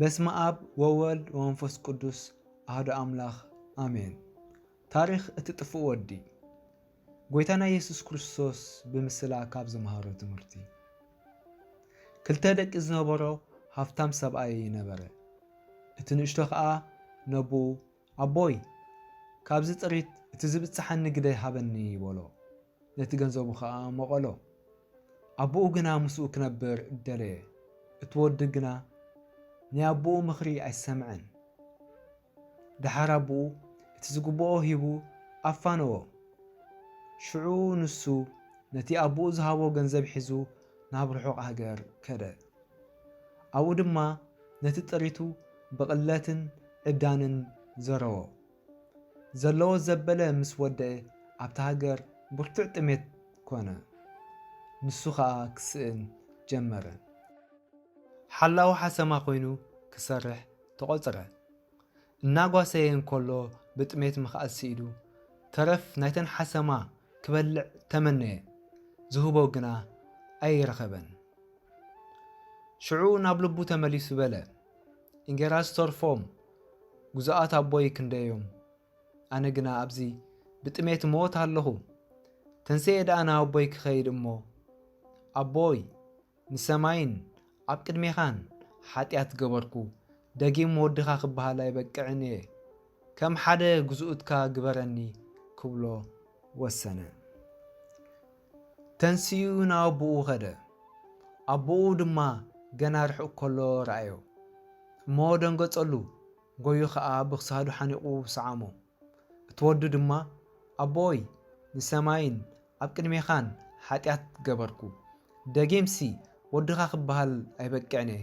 በስመ ኣብ ወወልድ ወመንፈስ ቅዱስ ኣህዶ ኣምላኽ ኣሜን። ታሪኽ እቲ ጥፉእ ወዲ ጎይታና ኢየሱስ ክርስቶስ ብምስላ ካብ ዝመሃሮ ትምህርቲ ክልተ ደቂ ዝነበሮ ሃብታም ሰብኣይ ነበረ። እቲ ንእሽቶ ከዓ ነብኡ ኣቦይ፣ ካብዚ ጥሪት እቲ ዚብጽሓኒ ግደ ሃበኒ፣ በሎ። ነቲ ገንዘቡ ኸኣ መቐሎ። ኣቦኡ ግና ምስኡ ኪነብር ደለየ። እቲ ወዲ ግና ናይ ኣቦኡ ምኽሪ ኣይሰምዐን። ደሓር ኣቦኡ እቲ ዚግብኦ ሂቡ ኣፋነዎ። ሽዑ ንሱ ነቲ ኣቦኡ ዝሃቦ ገንዘብ ሒዙ ናብ ርሑቕ ሃገር ከደ። ኣብኡ ድማ ነቲ ጥሪቱ ብቕለትን ዕብዳንን ዘረዎ። ዘለዎ ዘበለ ምስ ወደኤ ኣብታ ሃገር ብርቱዕ ጥሜት ኮነ። ንሱ ኸኣ ክስእን ጀመረ። ሓላዊ ሓሰማ ኮይኑ ክሰርሕ ተቖጽረ። እናጓሰየ እንከሎ ብጥሜት ምኽኣል ስኢኑ ተረፍ ናይተን ሓሰማ ክበልዕ ተመነየ፣ ዝህቦ ግና ኣይረኸበን። ሽዑ ናብ ልቡ ተመሊሱ በለ፣ እንጌራ ዝተርፎም ግዙኣት ኣቦይ ክንደዮም፣ ኣነ ግና ኣብዚ ብጥሜት እመወት ኣለኹ። ተንሴኤ ደኣ ናብ ኣቦይ ክኸይድ እሞ፣ ኣቦይ! ንሰማይን ኣብ ቅድሜኻን ሓጢኣት ገበርኩ፣ ደጊም ወድኻ ክበሃል ኣይበቅዕን እየ፣ ከም ሓደ ግዝኡትካ ግበረኒ ክብሎ ወሰነ። ተንሲኡ ናብ ኣቦኡ ኸደ፣ ኣቦኡ ድማ ገና ርሑቕ ከሎ ረኣዮ እሞ ደንገጸሉ፣ ጎዩ ኸኣ ብክሳዱ ሓኒቑ ሰዓሞ። እቲ ወዱ ድማ፣ ኣቦይ፣ ንሰማይን ኣብ ቅድሜኻን ሓጢኣት ገበርኩ፣ ደጊምሲ ወድኻ ኽበሃል ኣይበቅዕን'የ፣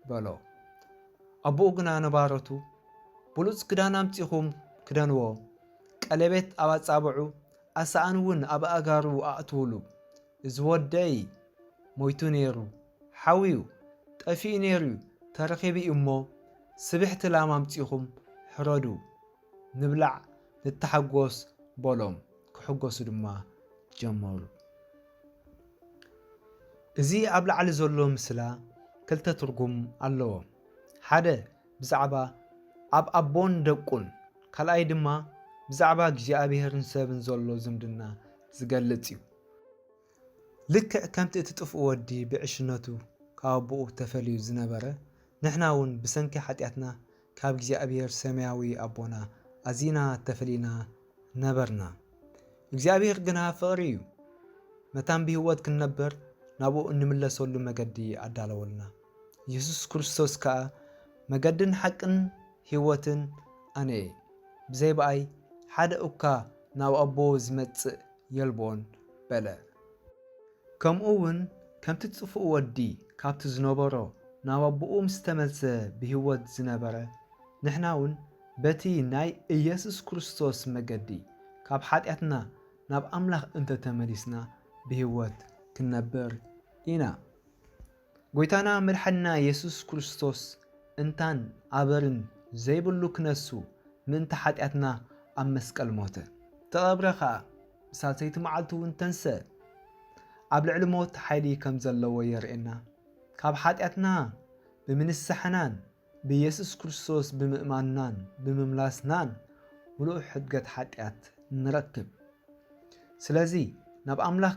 በሎ። ኣቦኡ ግና ንባሮቱ፣ ብሉጽ ክዳን ኣምጺኹም ክደንዎ፣ ቀሌቤት ኣብ ኣጻብዑ፣ ኣሳእን'ውን ኣብ ኣእጋሩ ኣእትዉሉ፣ እዚ ወደይ ሞይቱ ነይሩ፣ ሓውዩ፣ ጠፊኡ ነይሩ'ዩ፣ ተረኺቡ'ዩ'ሞ፣ ስብሕቲ ላም ኣምጺኹም ሕረዱ፣ ንብላዕ ንተሓጎስ በሎም ክሕጎሱ ድማ ጀመሩ። እዚ ኣብ ላዕሊ ዘሎ ምስላ ክልተ ትርጉም ኣለዎ። ሓደ ብዛዕባ ኣብ ኣቦን ደቁን ካልኣይ ድማ ብዛዕባ እግዚኣብሔርን ሰብን ዘሎ ዝምድና ዝገልጽ እዩ። ልክዕ ከምቲ እቲ ጥፍኡ ወዲ ብዕሽነቱ ካብ ኣቦኡ ተፈልዩ ዝነበረ ንሕና እውን ብሰንኪ ሓጢኣትና ካብ እግዚኣብሔር ሰማያዊ ኣቦና ኣዚና ተፈሊና ነበርና። እግዚኣብሔር ግና ፍቕሪ እዩ። መታን ብህይወት ክንነበር ናብኡ እንምለሰሉ መገዲ ኣዳለወልና። ኢየሱስ ክርስቶስ ከኣ መገድን ሓቅን ህይወትን ኣነ እየ፣ ብዘይ በኣይ ሓደ እኳ ናብ ኣቦ ዝመጽእ የልቦን በለ። ከምኡውን ከምቲ ጽፉእ ወዲ ካብቲ ዝነበሮ ናብ ኣቦኡ ምስ ተመልሰ ብህይወት ዝነበረ፣ ንሕናውን በቲ ናይ ኢየሱስ ክርስቶስ መገዲ ካብ ሓጢኣትና ናብ ኣምላኽ እንተ ተመሊስና ብህይወት ክንነብር ኢና። ጎይታና መድሓኒና የሱስ ክርስቶስ እንታን ኣበርን ዘይብሉ ክነሱ ምእንቲ ሓጢኣትና ኣብ መስቀል ሞተ ተቐብረ ከኣ ብሳልሰይቲ መዓልቲ ውን ተንሰእ ኣብ ልዕሊ ሞት ሓይሊ ከም ዘለዎ የርእየና ካብ ሓጢኣትና ብምንሳሕናን ብየሱስ ክርስቶስ ብምእማንናን ብምምላስናን ምሉእ ሕድገት ሓጢኣት ንረክብ ስለዚ ናብ ኣምላኽ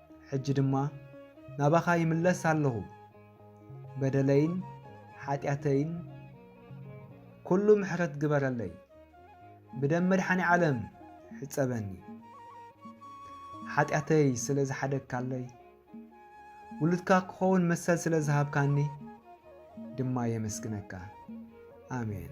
ሕጂ ድማ ናባኻ ይምለስ ኣለኹ፣ በደለይን ሓጢኣተይን ኩሉ ምሕረት ግበረለይ፣ ብደም መድሓኒ ዓለም ሕጸበኒ፣ ሓጢኣተይ ስለ ዝሓደግካለይ፣ ውሉድካ ክኸውን መሰል ስለ ዝሃብካኒ ድማ የመስግነካ። ኣሜን።